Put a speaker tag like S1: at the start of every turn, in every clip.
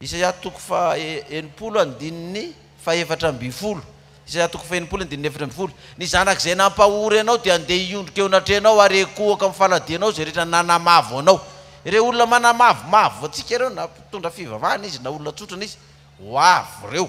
S1: Isaia toko faha enimpolo andininy faha efatra ambin'ny folo Isaia toko faha enimpolo andininy efatra ambin'ny folo Ny zanak'izay nampahory anao dia handeha hiondrika eo anatrehanao ary hikohoka amin'ny faladianao izay rehetra nanamavo anao. Ireo olona manamavomavo antsika ireo na mpitondra fivavahana izy na olona tsotra na izy ho avy ireo.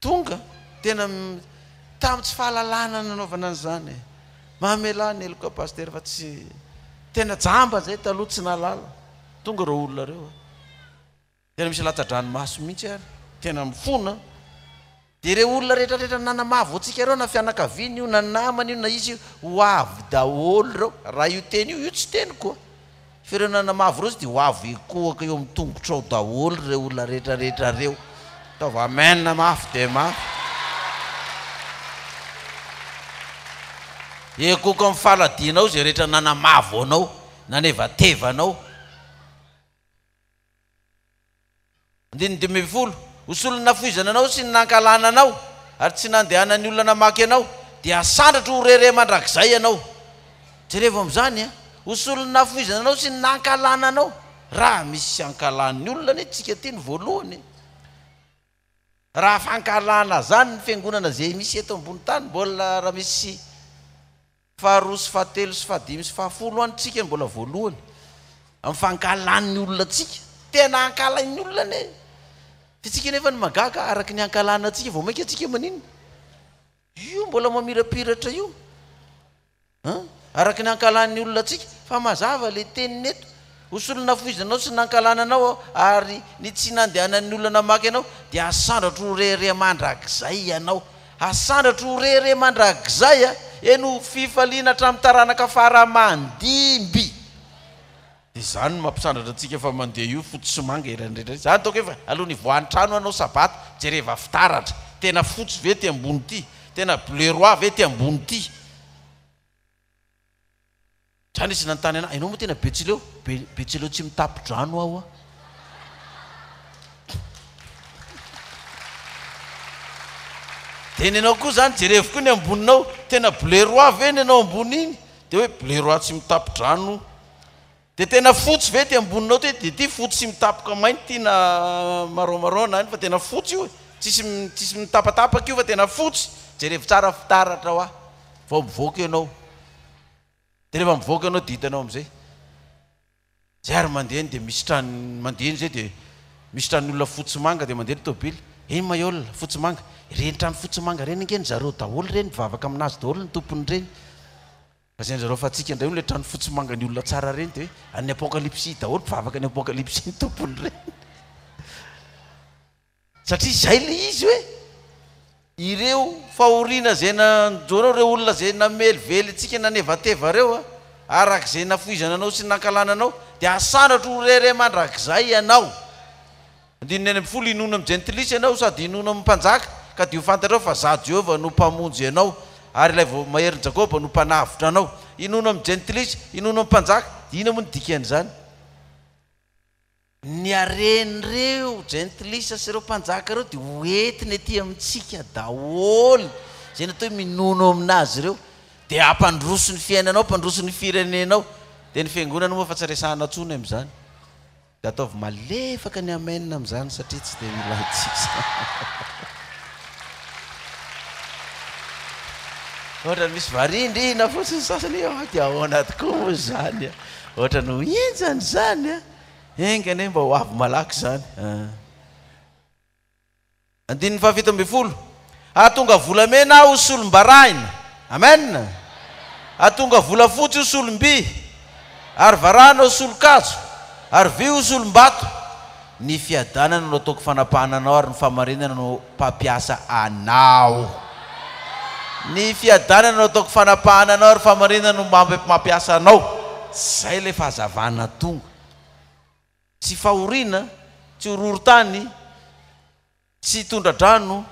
S1: Tonga, tena tamin'ny tsy fahalalana nanaovana an'izany e! Mamelà ny heloka Pasitera fa tsy, tena jamba izay taloha tsy nahalala, tonga ireo olona ireo a! Tena misy latsa-dranomaso mihitsy ary, tena mifona a! Dia ireo olona rehetrarehetra nanamavo antsika ireo na fianakaviany io na namany io na iza io, ho avy daholo ireo, raha io teny io, io tsy teniko a! Firenana mavo ireo tsy dia ho avy hikohaka eo amin'ny tongotrao daholo ireo olona rehetrarehetra ireo. Ataovy Amen mafy dia mafy. Ekoiko amin'ny faladianao izay rehetra nanamavo anao, nanevateva anao. Andininy dimy ambin'ny folo, Ho solon'ny nafoizana anao sy ny nankahalana anao, ary tsy nandehanan'ny olona namaky anao, dia hasandratro ho rere mandrakizay ianao. Jerevo amin'izany an! Ho solon'ny nafoizana anao sy ny nankahalana anao. Raha misy ankahalan'ny olona anie tsika aty ny voalohany e! Raha fankahalana zany ny fiangonana ze misy eto ambony tany mbola raha misy Faharoa sy fahatelo sy fahadimy sy fahafolo an tsika mbola voalohany am fankahalan ny olona tsika tena ankahalain ny olona anie fa tsika nefa ny magaga araky ny ankahalana tsika vao mainka tsika maninona io mbola mamirapiratra io an araky ny ankahalan ny olona tsika fa mazava le teniny eto Ho solon'ny nafoizanao sy ny nankahalana anao aho, ary ny tsy nandehanan'ny olona namaky anao, dia hasandratro ho rehareha mandrakizay ianao. Hasandratro ho rehareha mandrakizay, eny, ho fifaliana hatramin'ny taranaka fara-mandimby. Dia izany no mampisandratra antsika fa mandeha io fotsy sy manga eran'ny rehetra izany. Ataoko hoe alohan'ny hivoahan'ny trano hanao sabata, jereva fitaratra. Tena fotsy ve ity ambony ity? Tena bleu roi ve ity ambony ity? Zany izy nanontany anah, enao moa tena betsileo? Be, betsileo tsy mitapy-drano aho a! Dia ny anao koa zany jerevo koa ny amboninao, tena bleu roi ve ny anao ambony iny? Dia hoe bleu roi tsy mitapy-drano. Dia tena fotsy ve ity amboninao ity? Dia ity fotsy sy mitapoka mainty ity na marron marron na inona fa tena fotsy io e! Tsisy tsisy mitapatapaka io fa tena fotsy! Jerevo tsara fitaratra hoa vao mivoaka ianao! Dia rehefa mivoaka ianao dia hitanao amin'izay! Zay ary mandeha eny dia misy trano mandeha eny zay dia misy tranon'ny olona fotsy sy manga dia mandeha ny tôbily, eny ma iol fotsy sy manga, ireny trano fotsy sy manga ireny ange ny zareo daholo ireny mivavaka amin'azy daholo ny tompon'ireny! Lazain'i zareo fa antsika indray no ilay trano fotsy manga ny olona tsara ireny dia an'ny apokalypsy daholo mpivavaka ny apokalypsy ny tompony ireny satria izay ilay izy hoe ireo fahoriana izay nanjoanao ireo olona izay namelively antsika nanevateva ireo a araka izay nafoizana anao sy nankalana anao dia asandratra ho rere mandrakizay ianao Andininy enina ambin'ny folo Hinoana amin'ny jentilisa ianao sady hinoana amin'ny mpanjaka, ka dia ho fantatrao fa Izaho Jehovah no Mpamonjy anao, ary Ilay Vao Maherin'i Jakoba no Mpanavotra anao. Hinoana amin'ny jentilisa, hinoana amin'ny mpanjaka, dia inona moa ny dikan'izany? Ny haren'ireo jentilisa sy ireo mpanjaka ireo dia hoentiny etỳ amintsika daholo, izay natao hoe minono amin'azy ireo, dia hampandroso ny fiainanao, hampandroso ny firenenao. Dia ny Fiangonana moa fa tsy resahina intsony amin'izany. Dia ataovy malefaka ny amen amin'izany satria tsy dia ilaintsika izany. Ohatra misy varindrina fotsiny ny sasany hoe ah dia ahoana tokoa moa izany a! Ohatra no henjana izany a! Enga anie mba ho avy malaky izany a! Andininy fahafito ambin'ny folo, Hahatonga volamena Aho ho solom-barahina. Amen! Hahatonga volafotsy ho solom-by, ary varahina ho solon-kazo, ary vy ho solom-bato. Ny fiadanana no ataoko fanapahana anao, ary ny fahamarinana no mpampiasa anao. Ny fiadanana no ataoko fanapahana anao, ary fahamarinana no mampiasa anao. Izay ilay fahazavana tonga. Tsy fahoriana, tsy horohorontany, tsy tondra-drano,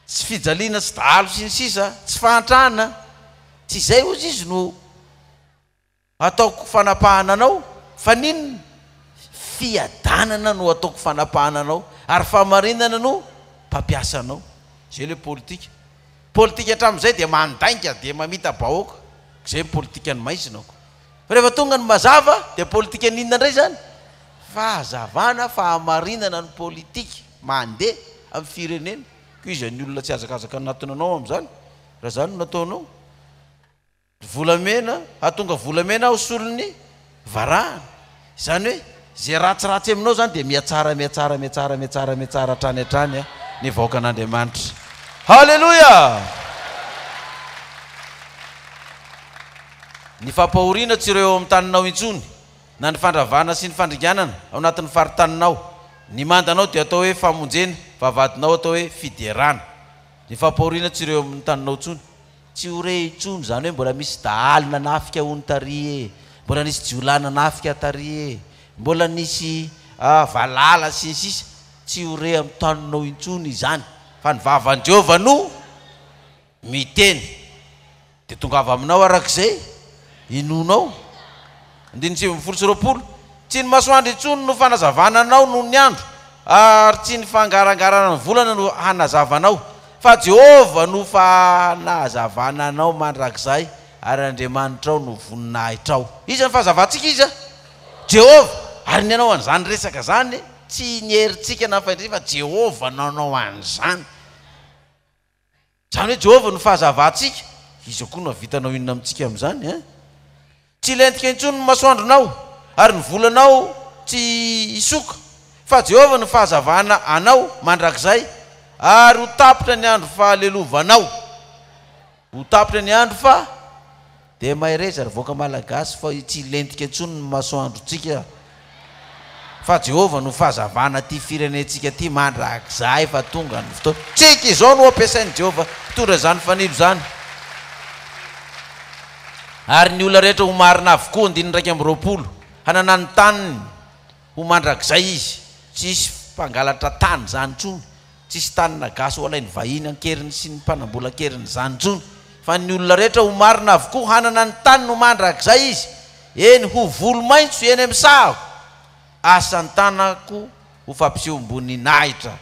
S1: tsy fijaliana, tsy dahalo sy ny sisa, tsy fahantrana, tsy izay hozy izy no hataoko fanapahana anao, fa n'inona? Fiadanana no hataoko fanapahana anao ary fahamarinana no mpampiasa anao. Izay ilay politika. Politika hatramin'izay dia mandainga dia mamita-bahoaka. Izay ny politikan'ny maizina ko. Rehefa tonga ny mazava dia politikan inona indray izany? Fahazavana, fahamarinana ny politika mandeha amin'ny firenena. Koa iza ny olona tsy hazakazaka anatona anao amin'izany raha izany no nataonao? Ry volamena, hahatonga volamena aho solon'ny varahana. Izany hoe izay ratsiratsy aminao izany dia mihatsara, mihatsara, mihatsara, mihatsara, mihatsara hatrany hatrany ny vahoakan'Andriamanitra. Haleloia! Ny fampahoriana tsy ireo eo amin'ny taninao intsony, na ny fandravana sy ny fandringanana ao anatin'ny faritaninao. Ny mandanao dia atao hoe famonjena, fa vadinao atao hoe fiderana. Ny fampahoriana tsy ireo eo amin'ny taninao intsony. Tsy ho re intsony izany hoe mbola misy dahalo nanafika hono tary e, mbola nisy jiolahy nanafika tary e, mbola nisy valala sy ny sisa Tsy ho re amin'ny taninao intsony izany fa ny vavan'i Jehovah no miteny Dia tongava aminao araka izay inoanao. Andininy sivy ambin'ny folo sy roapolo, Tsy ny masoandro intsony no fanazavana anao noho ny andro, ary tsy ny fangarangarana ny volana no hanazava anao, fa Jehovah no fanazavana anao mandrakizay, ary Andriamanitrao no voninahitrao. Iza no fahazavantsika? Iza? Jehovah. Ary ny hanao an'izany resaka izany, tsy ny herintsika na ny fahendrentsika, fa Jehovah no hanao an'izany. Izany hoe Jehovah no fahazavantsika, iza koa no hahavita hanao inona amintsika amin'izany an? Tsy hilentika intsony ny masoandronao, ary ny volanao tsy hisoka, fa Jehovah no fahazavana anao mandrakizay, ary ho tapitra ny andro fahalelovanao. Ho tapitra ny andro fa Dia mahereza ry vahoaka Malagasy fa tsy hilentika intsony ny masoandrontsika fa Jehovah no fahazavana ity firenentsika ity mandrakizay fa tonga ny fotoana. Tsiky izao no ampiasain'i Jehovah hitondra izany fanilo izany ary ny olona rehetra ho marina avokoa, andininy iraika amby roapolo, hanana ny taniny. Ho mandrakizay izy, tsy hisy mpangalatra tany izany intsony, tsy hisy tanana gasy ho alain'ny vahiny an-keriny sy ny mpanambolan-keriny izany intsony, fa ny olona rehetra ho marina avokoa hanana ny taniny ho mandrakizay izy, eny, ho volo maitso eny amin'ny sahako, asan-tanako ho fampisehoam-boninahitra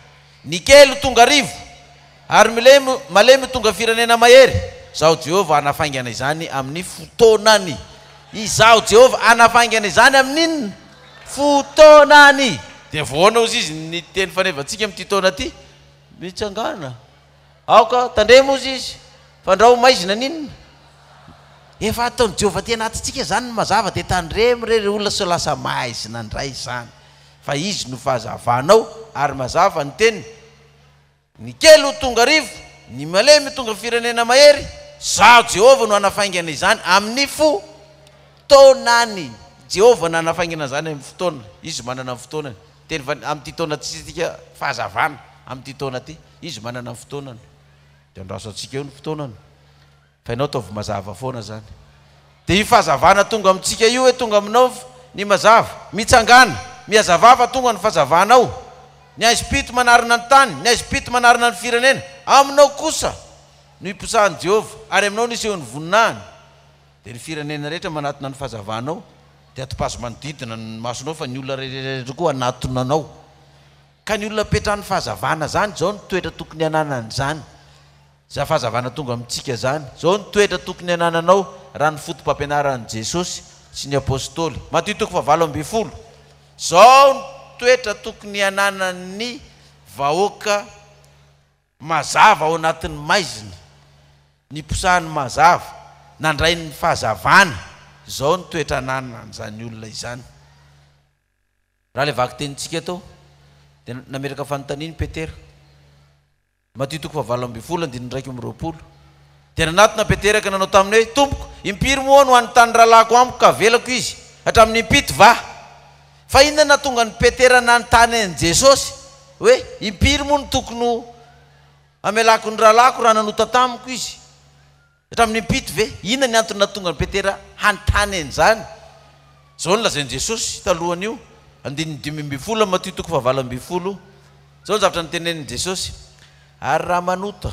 S1: Ny kely ho tonga arivo, ary milemy malemy ho tonga firenena mahery. Izaho Jehovah hanafaingana izany amin'ny fotoanany. Izaho Jehovah hanafaingana izany amin'ny fotoanany. Dia voahoana hozy izy ny teny fanevantsika amin'ity taona ity? Mitsangàna. Aoka tandremo hozy izy. Fandrao ho maizina ny inona? Efa ataon'i Jehovah aty anatintsika izany ny mazava, dia tandremo re ry olona sao lasa maizina indray izany. Fa izy no fahazavanao ary mazava ny teniny, ny kely ho tonga arivo, ny malemy ho tonga firenena mahery, Izaho Jehovah no hanafaingana izany amin'ny fotoanany. Jehovah no hanafaingana izany amin'ny fotoana, izy manana ny fotoanany. Teny fa amin'ity taona ity isika, fahazavana, amin'ity taona ity, izy manana ny fotoanany. Dia andraso antsika eo ny fotoanany. Fa ianao ataovy mazava foana zany de io fahazavana tonga amintsika io hoe tonga aminao ny mazava, mitsangàna, mihazavà fa tonga ny fazavana ao, ny haizim-pito manarina ny tany, ny haizim-pito manarina ny firenena, aminao kosa no iposahan'i Jehovah ary aminao no isehon'ny voninahiny, dia ny firenena rehetra manatona ny fahazavanao, dia atopazo manodidina ny masonao fa ny olona rehetra koa hanatona anao, ka ny olona apetrahan'ny fahazavana zany izao ny toetra tokony hananany zany. Za fahazavana tonga amintsika zany. Zao ny toetra tokony anananao raha ny fotopampianaran'i Jesosy sy ny Apostoly, Matio toko fahavalo ambin'ny folo, zao ny toetra tokony ananan'ny vahoaka mazava ao anatin'ny maizina, niposahan'ny mazava, nandray ny fahazavana, zao ny toetra ananan'izany olona izany. Raha ilay vakitenintsika tao dia nametraka fanontaniana i Petera, Matio toko fahavalo ambin'ny folo andininy iraika amby roapolo Dia nanatona Peteraka nanao taminy hoe, Tompoko, impiry moa no any tany rahalahiko amiko ka avelako izy? Hatramin'ny impito va? Fa inona no nahatonga an'i Petera nanontany an'i Jesosy hoe, Impiry moa no tokony ho amelako ny rahalahiko raha nanota tamiko izy? Hatramin'ny impito ve? Inona ny antony nahatonga an'i Petera hanontany an'izany? Izao no lazain'i Jesosy talohan'io, andininy dimy ambin'ny folo, Matio toko fahavalo ambin'ny folo, Izao ny zavatra notenenin'i Jesosy, Ary raha manota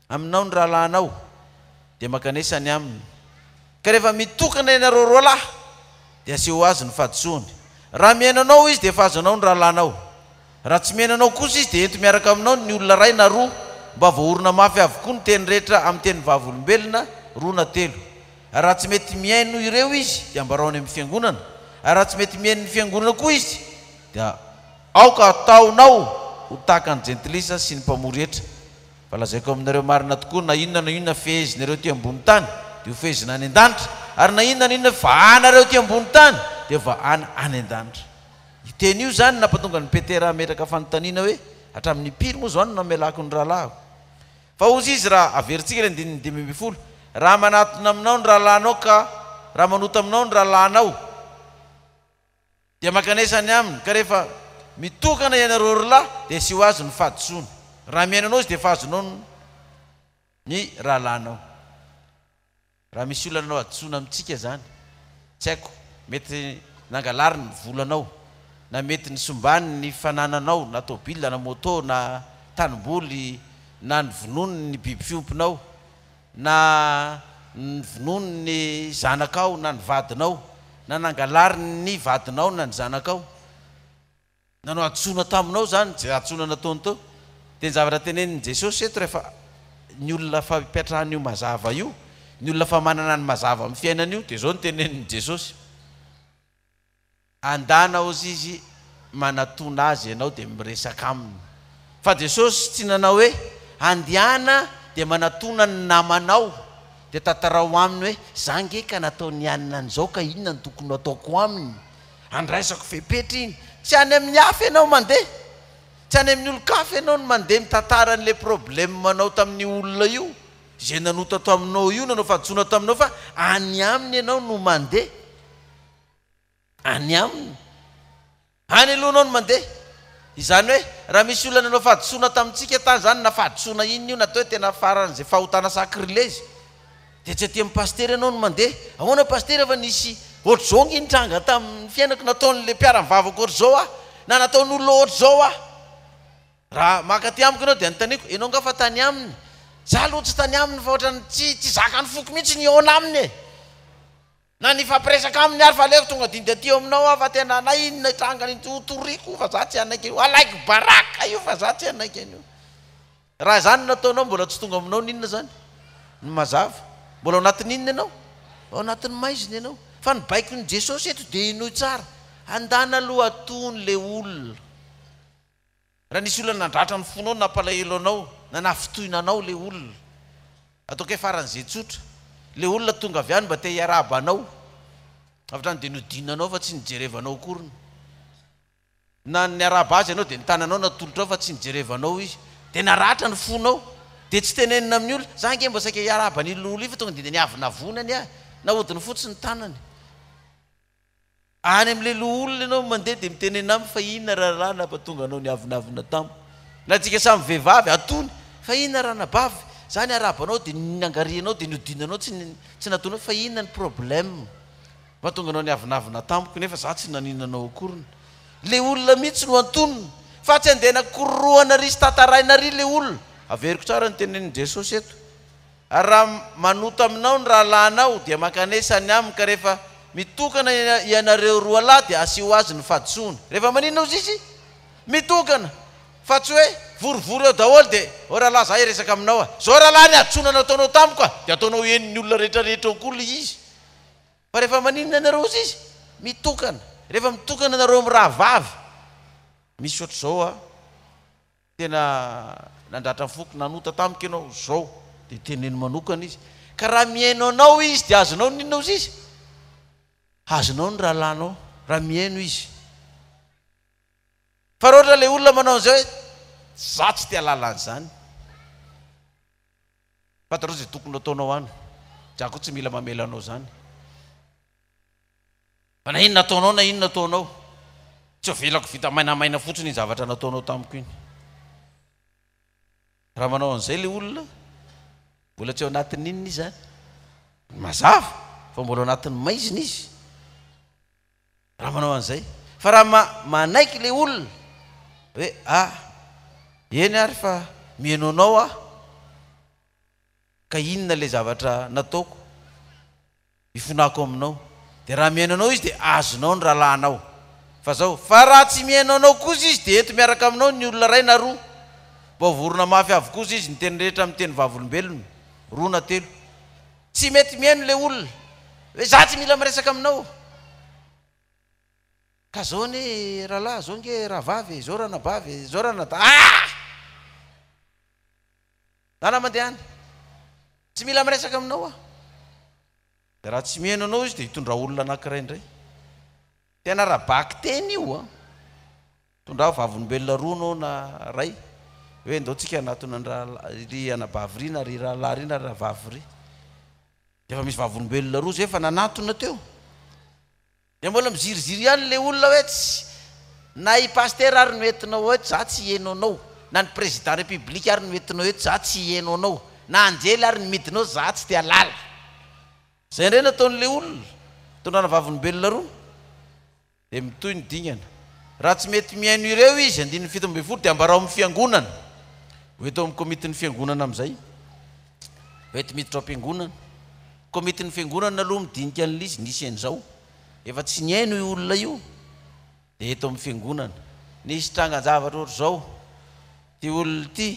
S1: aminao ny rahalahinao, dia mankanesa ny aminy. Ka rehefa mitokana ianareo roa lahy dia asehoa azy ny fahadisoany. Raha mihaino anao izy dia efa azo anao ny rahalahinao. Raha tsy mihaino anao kosa izy dia ento miaraka aminao ny olona iray na roa mba voahorina mafy avokoa ny teny rehetra amin'ny teny vavolombelona roa na telo. Ary raha tsy mety mihaino ireo izy dia ambarao any amin'ny fiangonana. Ary raha tsy mety mihaino ny fiangonana koa izy dia aoka hataonao ho tahaka ny jentilisa sy ny mpamory hetra. Fa lazaiko aminareo marina tokoa, na inona na inona fehezinareo ety ambony tany, dia ho fehezina any an-danitra, ary na inona na inona vahanareo ety ambony tany, dia vahana any an-danitra. Io teny io izany no nampatonga an'i Petera hametraka fanontaniana hoe, Hatramin'ny impiry moa izao no namelako ny rahalahiko? Fa hozy izy, raha averintsika ny andininy dimy ambin'ny folo, Raha manatona aminao ny rahalahinao ka raha manota aminao ny rahalahinao, Dia mankanesa any aminy, ka rehefa mitokana ianareo ry lahy, dia asio azy ny fahadisoany. Raha mihaino anao izy, dia efa azonao ny ny rahalahinao. Raha misy olona nanao hadisoana amintsika izany, tsy haiko, mety nangalariny ny volanao, na mety nisimbany ny fanananao, na tôbila, na môtô, na tanimboly, na nivonony ny biby fiompinao, na ny vonoan' ny zanakao na ny vadinao, na nangalarin' ny vadinao na ny zanakao, na nohadisoana taminao izany, izay hadisoana nataony teo, dia ny zavatra tenenin' i Jesosy eto rehefa ny olona fa ipetrahan' io mazava io, ny olona fa manana ny mazava amin' ny fiainany io, dia izao no tenenin' i Jesosy. Andana ozy izy manatona azy ianao dia miresaka aminy. Fa Jesosy tsy nanao hoe, Andihana dia manatona ny namanao dia tantarao aminy hoe, Za nge ka nataon'i anona an'izao ka inona no tokony ho ataoko aminy? Andraisako fepetra iny. Tsy any amin'ny hafa ianao mandeha. Tsy any amin'ny olon-kafa ianao no mandeha mitantara an'ilay problemanao tamin'io olona io, izay nanota taminao io, nanao fahadisoana taminao fa any aminy ianao no mandeha. any aminy. Any aloha anao no mandeha. Izany hoe, raha misy olona nanao fahadisoana tamintsika tany izany, na fahadisoana inona io, na atao hoe tena faran'izay fahotana sacrilège, dia tsy aty amin'ny pasitera ianao no mandeha. Ahoana pasitera fa nisy ohatr'izao ange nitranga tamin'ny fiainako, nataon'ilay mpiara-mivavaka ohatr'izao ahy, na nataon'olona ohatr'izao ahy. Raha maka aty amiko ianao dia anontaniako, ianao angaha fa tany aminy? Izaho aloha tsy tany aminy fa ohatran'ny tsy tsy zakan'ny foko mihitsy ny hihaona aminy e! Na nifampiresaka aminy ary fa aleoko tonga didy aty eo aminao aho fa tena na inona hitranga iny ho toriko fa za tsy hanaiky an'io alaiky baraka io fa za tsy hanaiky an'io raha zany no ataonao mbola tsy tonga aminao ny inona zany ny mazava mbola ao anatin'ny inona ianao ao anatin'ny maizina ianao fa ny baikon'i Jesosy eto dia henoy tsara handana aloha atony le olona Raha nisy olona nandratra ny fonao, nampalahelo anao, na nahafintohina anao ilay olona, ataoko hoe faran'izay tsotra, ilay olona tonga avy any mba te hiarahaba anao, avy hatrany dia nodinanao fa tsy nijerevanao akoriny, na niarahaba azy ianao dia ny tananao natolotrao fa tsy nijerevanao izy, dia naratra ny fonao, dia tsy tenenina amin'ny olona, za ange mba saika hiarahaba an'ily olona ily fa tonga dia niavonavona ny ahy, nahodiny fotsiny ny tanany. Any amin'ilay loholona ianao no mandeha dia mitenena aminy fa inona rahalahy nampatonga anao niavonavona tamiko. Na tsika samy vehivavy, atony, fa inona raha anabavy, za ny arabanao dia niangarianao dia niodinanao tsy tsy natonao fa inona ny problème mahatonga anao niavonavona tamiko nefa za tsy nanino anao akoriny. Ilay olona mihitsy no antonina fa tsy andeha anakorohana ry sy tataraina ry ilay olona. Averiko tsara ny tenenin'i Jesosy eto. Ary raha manota aminao ny rahalahinao, dia mankanesa any aminy, ka rehefa mitokana hianareo roa lahy, dia asio azy ny fahadisoany. Rehefa maninona ozy izy? Mitokana! Fa tsy hoe, vorivory eo daholo, dia, ô rahalahy, za hiresaka aminao a! Zao rahalahy ny hadisoana nataonao tamiko a! Dia ataonao henon'ny olona rehetrarehetra eo koa ilay izy. Fa rehefa maninona ianareo ozy izy? Mitokana! Rehefa mitokana ianareo mirahavavy, misy ohatr'izao a! Tena nandratra ny foko nanota tamiko ianao, izao dia teneno manokana izy, ka raha mihaino anao izy dia azonao ny inona ozizy? Azonao ny rahalahinao raha mihaino izy. Fa raha ohatra ilay olona manao an'izay hoe, izaho tsy te ahalala an'izany, fantatrao izay tokony hataonao any, izaho koa tsy mila mamela anao izany. Fa na inona ataonao na inona ataonao, tsy avelako vita mainamaina fotsiny iny zavatra nataonao tamiko iny. Raha manao an'izay ilay olona, mbola tsy ao anatin'ny inona izy izany? Ny mazava, fa mbola ao anatin'ny maizina izy. Raha manao an'izay. Fa raha ma, manaiky ilay olona, hoe, ah, eny ary fa mihaino anao aho, ka inona ilay zavatra nataoko? Ifonako aminao, dia raha mihaino anao izy dia azonao ny rahalahinao. Fa zao, fa raha tsy mihaino anao kosa izy dia eto miaraka aminao ny olona iray na roa. Vao vorona mafy avy kosa izy niteny rehetra amin'ny teny vavolombelona, roa na telo. Tsy mety mihaino ilay olona, hoe za tsy mila miresaka aminao. Ka zao anie rahalahy, zao nge rahavavy e, zao ranabavy e, zao ranadahy ah! Lala mandeha any. Tsy mila miresaka aminao aho. Dia raha tsy mihaino anao izy dia hitondra olona anankiray indray. Tena ara-bakiteny io an! Tondraho vavolombelona roa anao na iray hoe ndao tsika hanatona an-dRahalahy, ry anabavy ry na ry rahalahy ry na ry rahavavy ry. Dia efa misy vavolombelona roa izay efa nanatona teo. Dia mbola miziriziry ihany ilay olona hoe tsy na i Pasitera ary no entinao eto za tsy hieno anao, na ny Président République ary no entinao eto za tsy hieno anao, na anjely ary no midina ao za tsy te halala. Izay indray no ataon'ilay olona, tondrana vavolombelona roa dia mitohy ny dingana. Raha tsy mety mihaino ireo izy, andininy fito ambin'ny folo, dia ambarao amin'ny Fiangonana, ho eto amin'ny Komitin'ny Fiangonana amin'izay, Bety miditra ao am-piangonana. Komitin'ny fiangonana aloha midinika an'ilay izy, nisy an'izao. Efa tsy nihaino io olona io, dia eto amin'ny fiangonana. Nisy trangan-javatra ohatr'izao, ity olona ity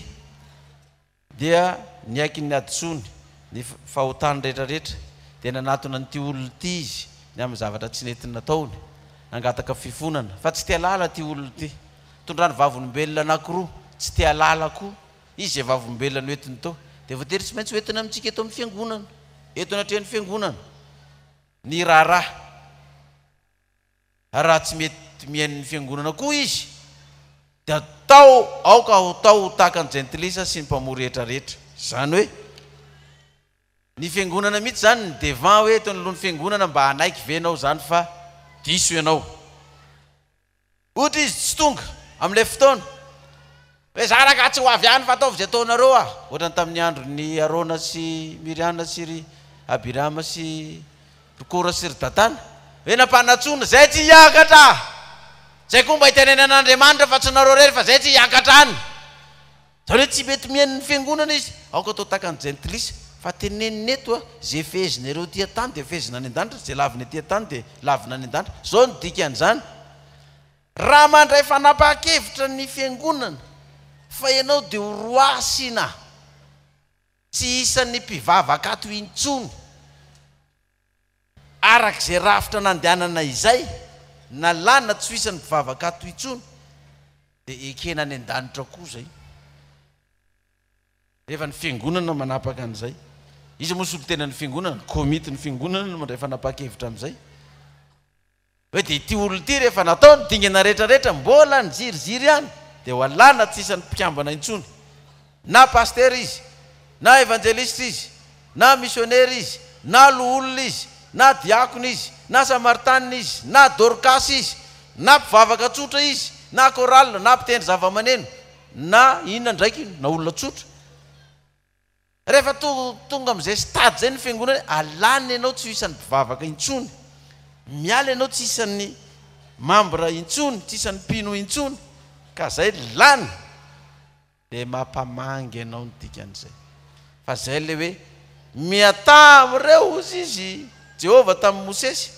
S1: dia niaiky ny hadisoany, ny fahotany rehetrarehetra, dia nanatona an'ity olona ity izy ny amin'ny zavatra tsy nety nataony, nangataka fifonana. Fa tsy te-halala ity olona ity. Tondrany vavolombelona anankiroa, tsy te-halala koa Izy izay Vavolombelona noentiny tao, dia voatery tsy maintsy hoentina amintsika eto amin'ny Fiangonana, eto anatrehan'ny Fiangonana, ny raharaha. Ary raha tsy mety mihaino ny Fiangonana koa Izy, dia atao, aoka hatao ho tahaka ny jentilisa sy ny mpamory rehetra rehetra. Izany hoe, ny Fiangonana mihitsy izany, ny devant hoe eto anoloan'ny Fiangonana, mba hanaiky ve ianao izany fa diso ianao? Ohatra izy tsy tonga amin'ilay fotoana, hoe za ragaha tsy ho avy any fa ataovy izay ataonareo aho. Ohatra ny tamin'ny andron'i Arona sy Miriana sy ry Abirama sy ry Kora sy ry Datana, hoe nampanantsoina, zay tsy hiakatra, zay koa mba hitenenen'Andriamanitra fa tsy nareo rery fa zay tsy hiakatra any. Zany hoe tsy mety mihaino ny fiangonana izy, aoka atao tahaka ny jentilisa, fa tenenina eto a, ze fehezina ireo ety an-tany dia fehezina any an-danitra, ze lavina ety an-tany dia lavina any an-danitra, zao no dikan'izany, raha mandray fanapahan-kevitra ny fiangonana fa ianao dia ho roasina tsy isan'ny mpivavaka ato intsony, Araka izay rafitra nandehanana izay, nalana tsy ho isan'ny mpivavaka ato intsony, dia ekena any an-danitra koa izay, rehefa ny Fiangonana no manapaka an'izay. Iza moa solontenan'ny Fiangonana? Ny Komitin'ny Fiangonana no mandray fanapahan-kevitra amin'izay. Hoe dia ity olona ity rehefa natao ny dingana rehetra rehetra mbola niziriziry ihany dia ho alana tsy isan'ny mpikambana intsony. Na pasitera izy, na evanjelisitra izy, na misionera izy, na loholona izy, na diakona izy, na samaritanina izy, na dorkasy izy, na mpivavaka tsotra izy, na chorale, na mpitendry zavamaneno, na inona ndraiky na olona tsotra. Rehefa tonga amin'izay stade izay ny fiangonana, alana ianao tsy ho isan'ny mpivavaka intsony, miala ianao tsy isan'ny membre intsony, tsy isan'ny mpino intsony, ka izay lany dia mampamangy anao ny dikan'izay. Fa izay ilay hoe, Mihatà amin'ireo, hozy izy, Jehovah tamin'i Mosesy.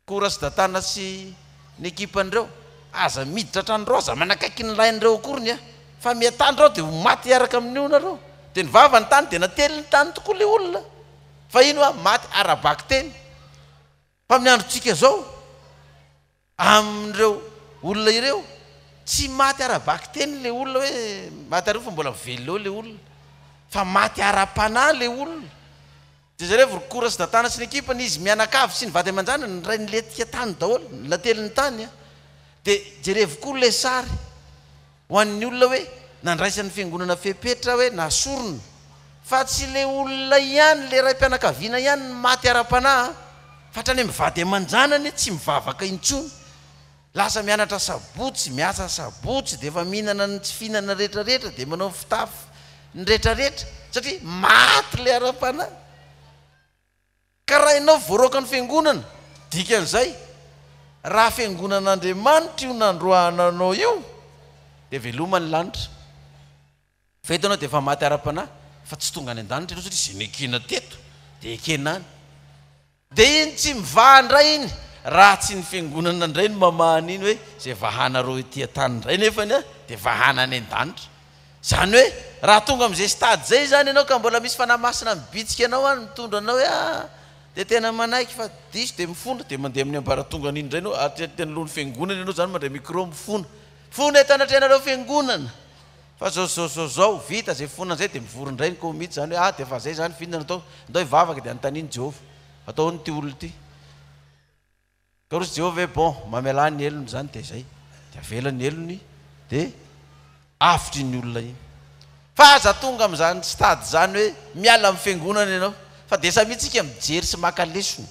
S1: Kora sy Datana sy ny ekipan'ireo, aza miditra an-tranonareo, aza manakaiky ny lahinareo akoriny aho, fa mihatandro aho dia ho maty hiaraka amin'io nareo. Dia nivava ny tany, dia natelin'ny tany tokoa ilay olona fahiny hoa maty ara-bakiteny. Fa amin'ny androntsika izao, amin'ireo olona ireo, tsy maty ara-bakiteny ilay olona hoe maty ary fa mbola velona eo ilay olona, fa maty ara-panahy ilay olona. Dezirevy Rokora sy Datana sy ny ekipany, izy mianakavy sy ny vady aman-janany, ny rainy letika tany daholo, ny lateliny tany an! Dia jerevo koa ilay sary ho an'ny olona hoe nandraisan'ny fiangonana fepetra hoe nasorina, fa tsy ilay olona ihany, ilay raim-pianakaviana ihany no maty ara-panahy an! Fa hatrany amin'ny vady aman-janany tsy mivavaka intsony. Lasa mianatra sabotsy, miasa sabotsy, dia efa mihinana ny tsy fihinana rehetra rehetra, dia manao ny fitafy ny rehetra rehetra, satria maty ilay ara-panahy. Ka raha ianao voaroaka ny fiangonana, dikan'izay, raha fiangonan'Andriamanitra io nandroahana anao io, dia veloma ny lanitra. Fa eto ianao dia efa maty ara-panahy, fa tsy tonga any an-danitra ianao, satria izay nekena teto dia ekena any. Dia iny tsy mivaha indray iny, raha tsy ny Fiangonana indray no mamaha an'iny hoe izay vahanareo ety an-tany indray nefany dia vahana any an-danitra. Izany hoe, raha tonga amin'izay stade izay izany ianao ka mbola misy Fanahy Masina mibitsika anao any mitondra anao hoe aa dia tena manaiky fa diso dia mifona, dia mandeha amin'ny ambaratongany iny indray ianao, aty anoloan'ny Fiangonana ianao izany mandray micro mifona, Fony eto anatrehanareo Fiangonana! Fa zao zao zao zao vita zay fona zay de mivory indray ny ko mitsy zany hoe ah de efa zay zany fintina atao ndao hivavaka de anontanio ny Jehovah atao ahoana ity olona ity ka roso Jehovah hoe bon mamelà ny helony zany de zay de avela ny helony de avotra iny olona iny fa aza tonga amizany stade zany hoe miala am fiangonana ianao fa de samia tsika mijery sy maka lesona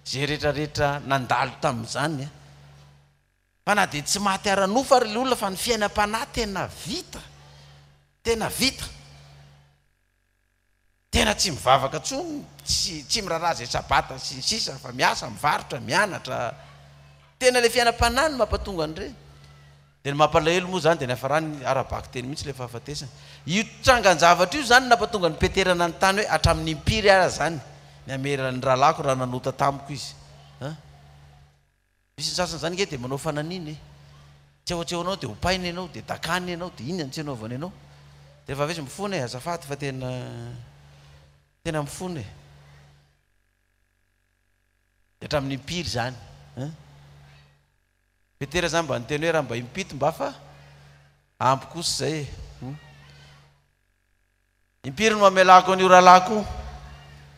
S1: ze retraretra nandalo tamizany a. Fa na dia tsy maty ara-nofo ary ilay olona fa ny fiainam-panahy tena vita, tena vita, tena tsy mivavaka intsony, tsy tsy miraharaha izay sabata sy ny sisa fa miasa, mivarotra, mianatra, tena ilay fiainam-panahy no mampatonga an'ireny. Dia ny mampalahelo moa izany dia niafarany ara-bakiteny mihitsy ilay fahafatesana. Io trangan-javatra io izany no nampatonga an'i Peter nanontany hoe hatramin'ny impiry ary izany ny hameran'ny rahalahiko raha nanota tamiko izy? An! Misy ny sasany zany nge de manao fananina e! tsy ao tsy ao anao de hopaina ianao de dakana ianao de inona no tsy anaovany anao de refa avy eo izy mifona e! azafady fa tena tena mifona e! de hatramin'ny impiry zany an! petera zany mba niteny hoe raha mba impito mba fa ampy kosa zay e! impiry no amelako an'io rahalahy ko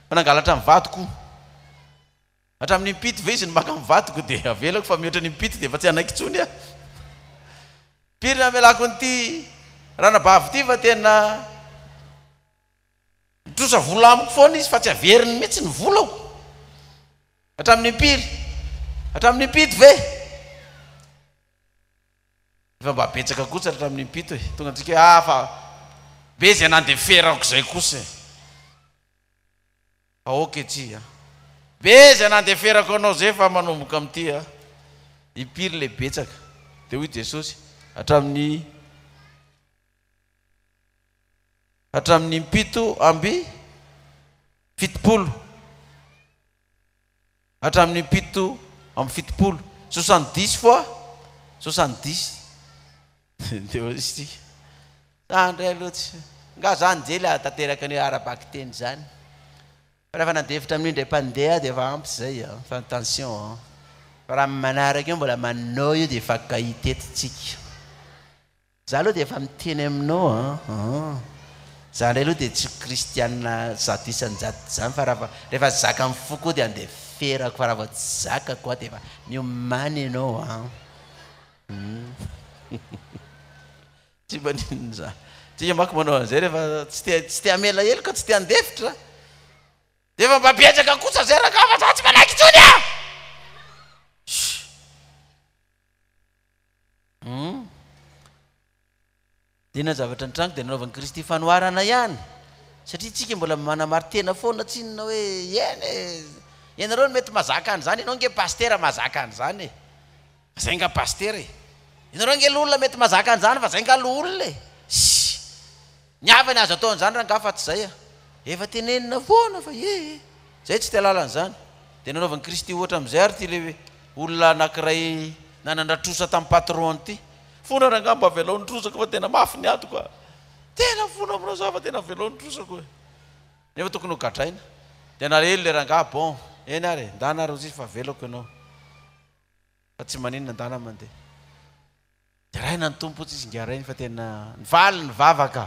S1: fa nangalatra ny vadiko Hatramin'ny impito ve izy no maka ny vadiko dia avelako fa mihoatra ny impito dia efa tsy hanaiky intsony aho. Pirina amelako an'ity ranabavy ity fa tena mitrosa vola amiko foana izy fa tsy averiny mihitsy ny volako. Hatramin'ny impiry? Hatramin'ny impito ve? Efa mba betsaka kosa hatramin'ny impito e. Tonga antsika hoe ah fa be izay nandeferako izay kosa e. Aoka ety a! Be izay nandeferako anao zay fa manomboka amin'ity a! Impiry le betsaka? Dia hoy Jesosy, Hatramin'ny hatramin'ny impito amby fitopolo. Hatramin'ny fito amby fitopolo. Soixante dix fois soixante dix. Dia hoy izy, Za indray aloha tsy. Angaha za anjely hahatanteraka an'io ara-bakiteny izany? Fa rehefa nandefitra amin'io indray mpandeha aho dia efa ampy izay an! Fa attention an! Fa raha amin'ny manaraka eo mbola manao io dia efa gaiety tsika. Za aloha dia efa miteny aminao an an. Za ndray aloha dia tsy kristianina zato isan-jato zany fa raha rehefa zaka ny foko dia andeha ferako fa raha vao tsy zakako an dia efa miomany ianao an. Tsy maninona za. Tsika manko manao an'izay rehefa tsy te tsy te hamela heloka, tsy te handefitra. Dia efa mba betsaka kosa zay rangahy fa za tsy manaiky intsony an! Sh! Humm. Dia na zavatra nitranga dia nanaovan'i Kristy fanoharana ihany. Satria tsika mbola manamari-tena foana tsinona hoe eny e, ianareo no mety mazaka an'izany, ianao ange pasitera mazaka an'izany e, fa zay nga pasitera e, ianareo ange loholona mety mazaka an'izany fa zay nga loholona e, ssy. Ny hafa ny azo atao an'izany rangah fa tsy zay a! Efa tenenina foana fa ee! Zay tsy tia lalana zany! Dia nanaovan'i Kristy ohatra amin'izay ary ity le olona anakiray nanandratra trosa tamin'ny patron-ny ity. Fona rangah mba avelao ny trosako fa tena mafy ny atiko a! Tena fona aminao za fa tena avelao ny trosako e! Nefa tokony ho gadraina. Dia nalahelo le rangah, bon! Eny ary e! Ndana ary hozizy fa avelako ianao. Fa tsy maninona ndala mandeha. Deraina ny Tompo tsy izy ngah reny fa tena nivaly ny vavaka.